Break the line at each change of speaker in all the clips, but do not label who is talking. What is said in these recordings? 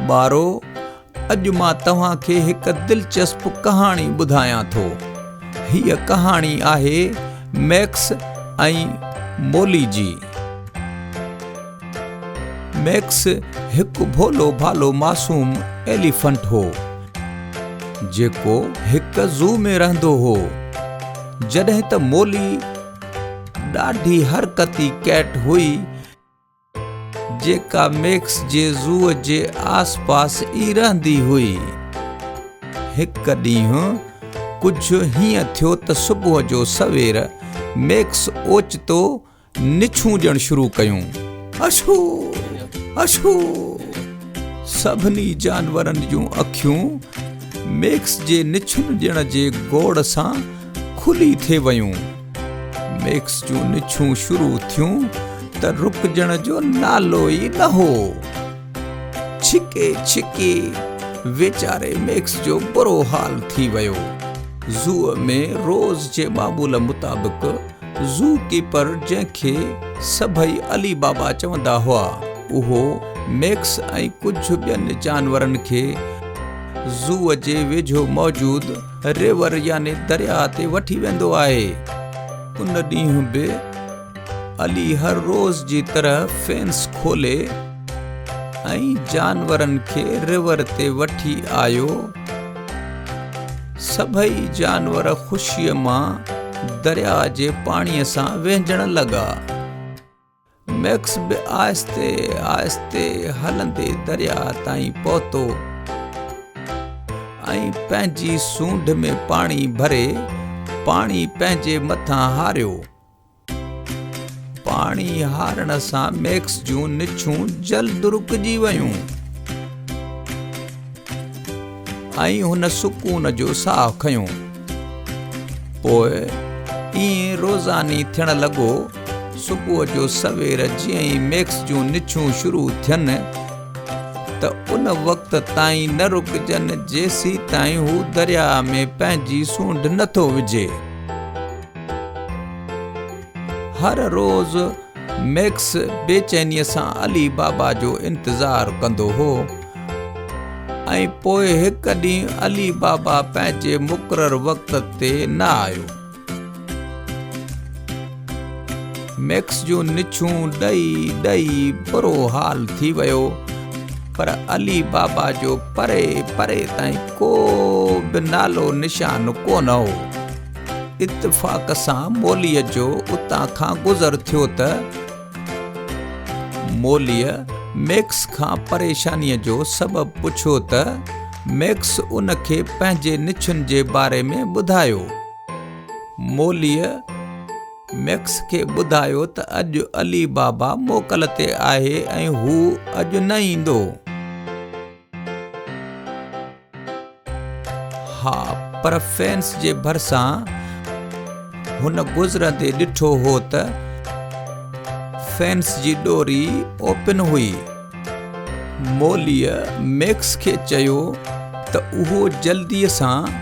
ٻارو اڄ مان توهان کي هڪ دلچسپ ڪهاڻي ٻڌايان ٿو هيء ڪهاڻي آهي ميڪس ۽ مولي جي ميڪس هڪ ڀولو ڀالو معصوم ايليفنٽ هو جيڪو هڪ زو ۾ رهندو هو جڏهن ته مولي ڏاڍي حرڪتي ڪيٽ هئي، جيڪا ميڪس جي زوء جي آس پاس ئي رهندي هئي. هڪ ڏينهن ڪجهه هيئن ٿيو ته صبح جو سوير ميڪس اوچتو نڇون ڏيڻ شروع ڪيون. اشو! اشو! سڀني جانورن جون اکيون ميڪس جي نڇون ڏيڻ جي گوڙ سان کلي ٿي ويون. ميڪس جون نڇون شروع ٿيون ته رڪجڻ جو نالو ئي نه هو. ڇڪي ڇڪي ويچاري ميڪس جو برو حال ٿي ويو. زوء ۾ روز جي معمول مطابق زو ڪيپر جنهن کي سڀئي علي بابا چوندا هئا اهو ميڪس ۽ ڪجهه ٻين جانورن کي زوء جي ويجهو موجود River يعني درياء تي وٺي ويندو آهي. ان ڏينهن به علي هر روز جي طرح فينس کولي ۽ جانورن کي River تي وٺي آيو. سڀئي جانور خوشيء مان درياء جي پاڻيء سان وهنجڻ لڳا. ميڪس به آهستي آهستي هلندي درياء تائين پهتو ۽ پنهنجي سونڍ ۾ پاڻي ڀري پاڻي پنهنجي مٿان هاريو. پاڻي هارڻ سان ميڪس جون نڇون جلد رڪجي ويون. ۽ هن سڪون جو ساهه کنيو. پوء ائين روزاني ٿيڻ لڳو. صبح جو سوير جيئن ئي ميڪس جون نڇون شروع ٿين ته ان وقت تائين نه رڪجن جيسيتائين هو درياء ۾ پنهنجي سونڍ نه ٿو وجهي. هر روز ميڪس بيچينيء سان علي بابا جو انتظار ڪندو هو. ۽ پوء هڪ ڏينهن علي بابا پنهنجي مقرر وقت تي نه آيو. ميڪس جون نڇون ڏئي ڏئي برو حال ٿي ويو، پر علي بابا جو پري پري تائين ڪو به نالو نشان ڪونه هو. اتفاق سان موليء جو اتان کان گذر ٿيو ته، موليء ميڪس کان پريشانيء جو سبب پڇيو ته ميڪس ان کي پنهنجي نڇن جي باري ۾ ٻڌايو. موليء ميڪس کي ٻڌايو ته اڄ علي بابا موڪل تي آهي ۽ هو اڄ نه ايندو. ها پر فينس جي ڀرسان هن گذرندي ڏٺو هو ته فينس جي ڏوري اوپن هئي موليء ميڪس کي چيو ته اهو جلدي سان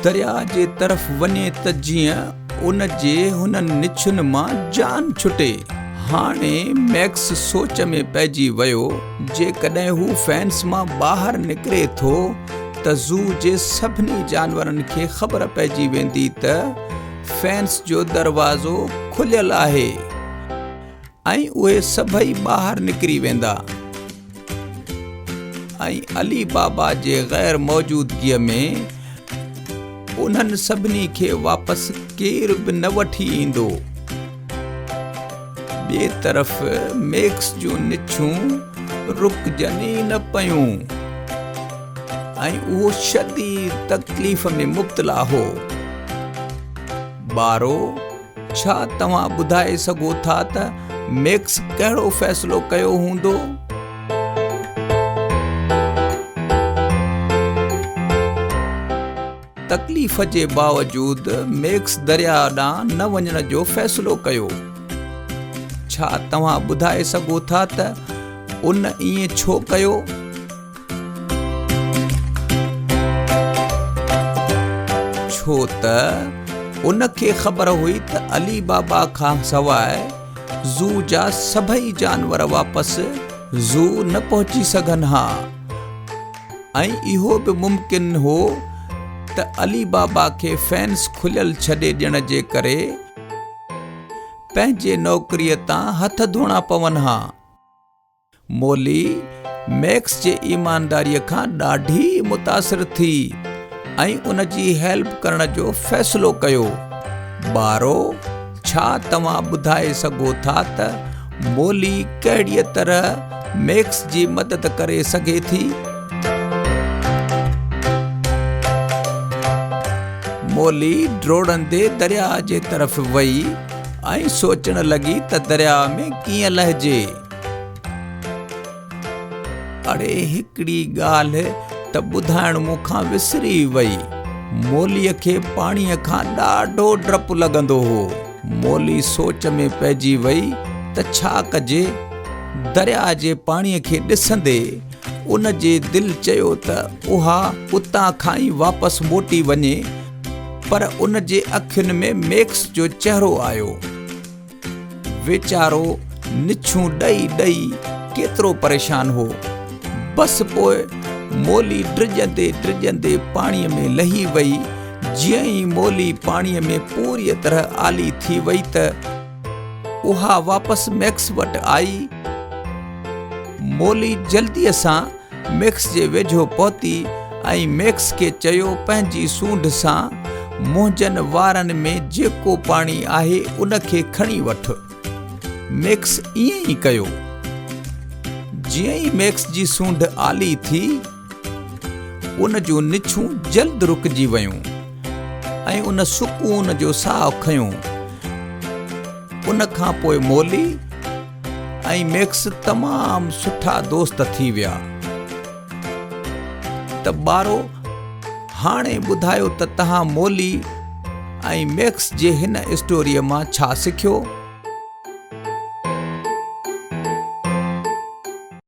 درياء جي طرف وڃي ته جيئن ان جي هنن نڇن مان جان ڇٽي هاڻي ميڪس سوچ ۾ پئجي ويو جيڪڏهن هو فينس مان ٻاهر نڪري ٿو ته زو جي سڀني جانورن کي خبر پئجي ويندي ته فينس جو دروازو کليل آهي ۽ اهي سڀئي ٻاهر نڪري ويندا ۽ علي بابا جي غير موجودگيء ۾ انهن سڀني کي واپس ڪير به نه وٺي ايندو ٻئي طرف ميڪس جون نڇون رڪجن ئي نه پيون ۽ اهو شديد تڪليف ۾ مبتلا هو. بارو، ڇا توهان ٻڌائي سگهو ٿا ته ميڪس ڪهڙو فيصلو ڪيو هوندو؟ تڪليف جي باوجود ميڪس درياء ڏانهن نه وڃڻ جو فيصلو ڪيو. ڇا توهان ٻڌائي سگهو ٿا ته ان ائين ڇو ڪيو؟ ڇو ته ان کي خبر هئي ته علي بابا کان سواء زو جا سڀئي جانور واپس زو نه پهچي سگهن ها. ۽ اهو به ممڪن هو ته علي بابا کي فينس کليل ڇڏي ڏيڻ جي ڪري پنهنجي نوڪريء تان هٿ ڌوڻا پون ها. مولي ميڪس جي ايمانداريء کان ڏاڍي متاثر ٿي ۽ ان جي هيلپ ڪرڻ جو فيصلو ڪيو. ٻارو! ڇا توهان ٻڌائي سگهو ٿا ته مولي ڪهڙيء طرح ميڪس جي مدد ڪري سگهي ٿي؟ مولي ڊوڙندي درياء جي طرف وئي ۽ سوچڻ لڳي ته درياء ۾ ڪيئن لهجي. اڙي هڪڙي ڳالهه ته ٻڌائڻ مون کان وسري وئي. موليء کي پاڻيء کان ڏاڍو ڊپ لڳندو هو. مولي سوچ ۾ پئجي وئي ته ڇا ڪجي. درياء جي پاڻيء کي ڏسندي ان جي دل چيو ته اها اتان کان ئي واپس موٽي وڃي پر ان جي اکين ۾ ميڪس جو چهرو آيو. ويچارو نڇون ڏئي ڏئي ڪيترو پريشان هو. بس پوء مولي ڊڄندي ڊڄندي پاڻيء ۾ لهي وئي. جيئن ئي مولي پاڻيء ۾ پوريء طرح آلي ٿي وئي ته اها واپس ميڪس وٽ آئي. مولي جلديء سان ميڪس جي ويجهو پهتي ۽ ميڪس کي چيو پنهنجي سونڍ سان منهنجن وارن ۾ جيڪو پاڻي آهي ان کي کڻي وٺ. ميڪس ائين ئي ڪيو. جيئن ئي ميڪس جي سونڍ آلي ٿي ان جون نڇون جلد رڪجي ويون ۽ ان سڪون جو ساهه کنيو. ان کان پوء مولي. ۽ ميڪس تمام سٺا دوست ٿي ويا ته ٻارو هاڻي ٻڌايو ته تهان مولي ۽ ميڪس جي هن اسٽوري مان ڇا سکيو؟